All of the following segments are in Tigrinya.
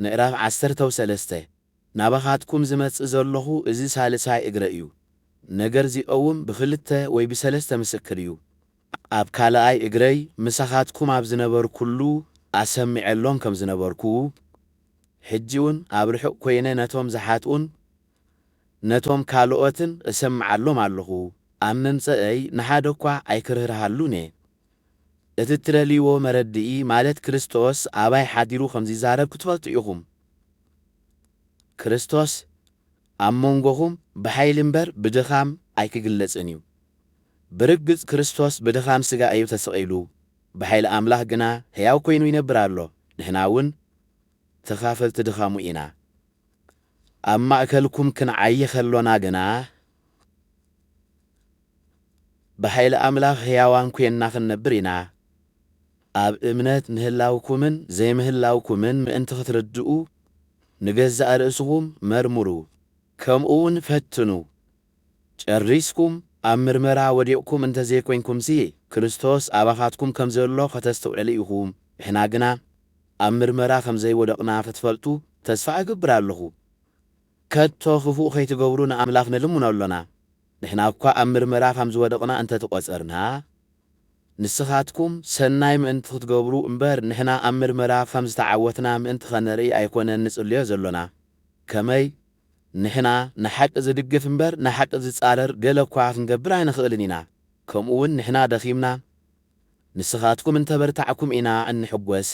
ምዕራፍ ዓሰርተው ሰለስተ ናባኻትኩም ዝመጽእ ዘሎኹ እዚ ሳልሳይ እግረ እዩ፣ ነገር ዚቀውም ብኽልተ ወይ ብሰለስተ ምስክር እዩ። ኣብ ካልኣይ እግረይ ምሳኻትኩም ኣብ ዝነበርኩሉ ኣሰሚዐሎም ከም ዝነበርኩ፣ ሕጂውን ኣብ ርሑቕ ኰይነ ነቶም ዝሓጥኡን ነቶም ካልኦትን እሰምዓሎም ኣሎኹ፣ ኣብ መምጸእይ ንሓደ እኳ ኣይክርህርሃሉን እየ። እቲ ትደልይዎ መረድኢ ማለት ክርስቶስ ኣባይ ሓዲሩ ከም ዚዛረብ ክትፈልጡ ኢኹም። ክርስቶስ ኣብ መንጎኹም ብሓይሊ እምበር ብድኻም ኣይኪግለጽን እዩ። ብርግጽ ክርስቶስ ብድኻም ስጋ እዩ ተሰቒሉ፣ ብሓይሊ ኣምላኽ ግና ሕያው ኮይኑ ይነብር ኣሎ፣ ንሕናውን ተኻፈልቲ ድኻሙ ኢና። ኣብ ማእከልኩም ክንዓዪ ከሎና ግና፣ ብሓይሊ ኣምላኽ ሕያዋን ኴንና ኽንነብር ኢና። ኣብ እምነት ምህላውኩምን ዘይምህላውኩምን ምእንቲ ኽትርድኡ፣ ንገዛእ ርእስኹም መርምሩ፣ ከምኡውን ፈትኑ። ጨሪስኩም ኣብ ምርመራ ወዲቕኩም እንተ ዘይኰንኩምሲ፣ ክርስቶስ ኣባኻትኩም ከም ዘሎ ኸተስተውዕሉ ኢኹም። ንሕና ግና ኣብ ምርመራ ኸም ዘይወደቕና ኽትፈልጡ ተስፋ እገብር ኣለኹ። ከቶ ክፉእ ከይትገብሩ ንኣምላኽ ንልምኖ ኣሎና። ንሕና እኳ ኣብ ምርመራ ከም ዝወደቕና እንተ ተቖጸርና፣ ንስኻትኩም ሰናይ ምእንቲ ኽትገብሩ እምበር፣ ንሕና ኣብ ምርመራ ኸም ዝተዓወትና ምእንቲ ኸነርኢ ኣይኰነን ንጽልዮ ዘሎና። ከመይ? ንሕና ንሓቂ ዚድግፍ እምበር፣ ንሓቂ ዚጻረር ገለ እኳ ኽንገብር ኣይንኽእልን ኢና። ከምኡውን ንሕና ደኺምና፣ ንስኻትኩም እንተ በርታዕኩም ኢና እንሕጐስ፣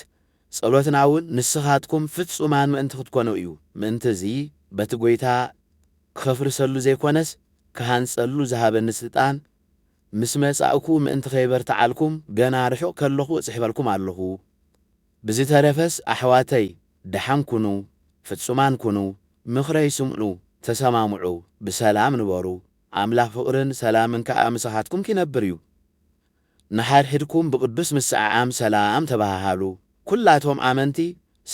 ጸሎትና እውን ንስኻትኩም ፍጹማን ምእንቲ ክትኰኑ እዩ። ምእንቲ እዚ፣ በቲ ጐይታ ኸፍርሰሉ ዘይኰነስ፣ ክሃንጸሉ ዝሃበኒ ስልጣን ምስ መጻእኩ፣ ምእንቲ ኸየበርትዓልኩም፣ ገና ርሑቕ ከለኹ እጽሕፈልኩም ኣሎኹ። ብዝተረፈስ ኣሕዋተይ፣ ደሓን ኩኑ፣ ፍጹማን ኩኑ፣ ምኽረይ ስምዑ፣ ተሰማምዑ፣ ብሰላም ንበሩ፣ ኣምላኽ ፍቕርን ሰላምን ከኣ ምሳኻትኩም ኪነብር እዩ። ንሓድሕድኩም ብቅዱስ ምስዕዓም ሰላም ተበሃሃሉ። ኩላቶም ኣመንቲ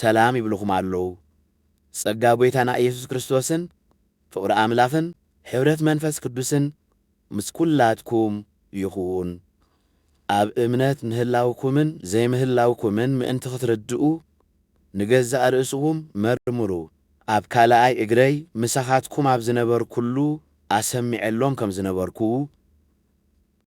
ሰላም ይብሉኹም ኣለዉ። ጸጋ ጐይታና ኢየሱስ ክርስቶስን ፍቕሪ ኣምላኽን ሕብረት መንፈስ ቅዱስን ምስ ኩላትኩም ይኹን። ኣብ እምነት ምህላውኩምን ዘይምህላውኩምን ምእንቲ ክትርድኡ ንገዛእ ርእስኹም መርምሩ። ኣብ ካልኣይ እግረይ ምሳኻትኩም ኣብ ዝነበርኩሉ ኣሰሚዐሎም ከም ዝነበርኩ፣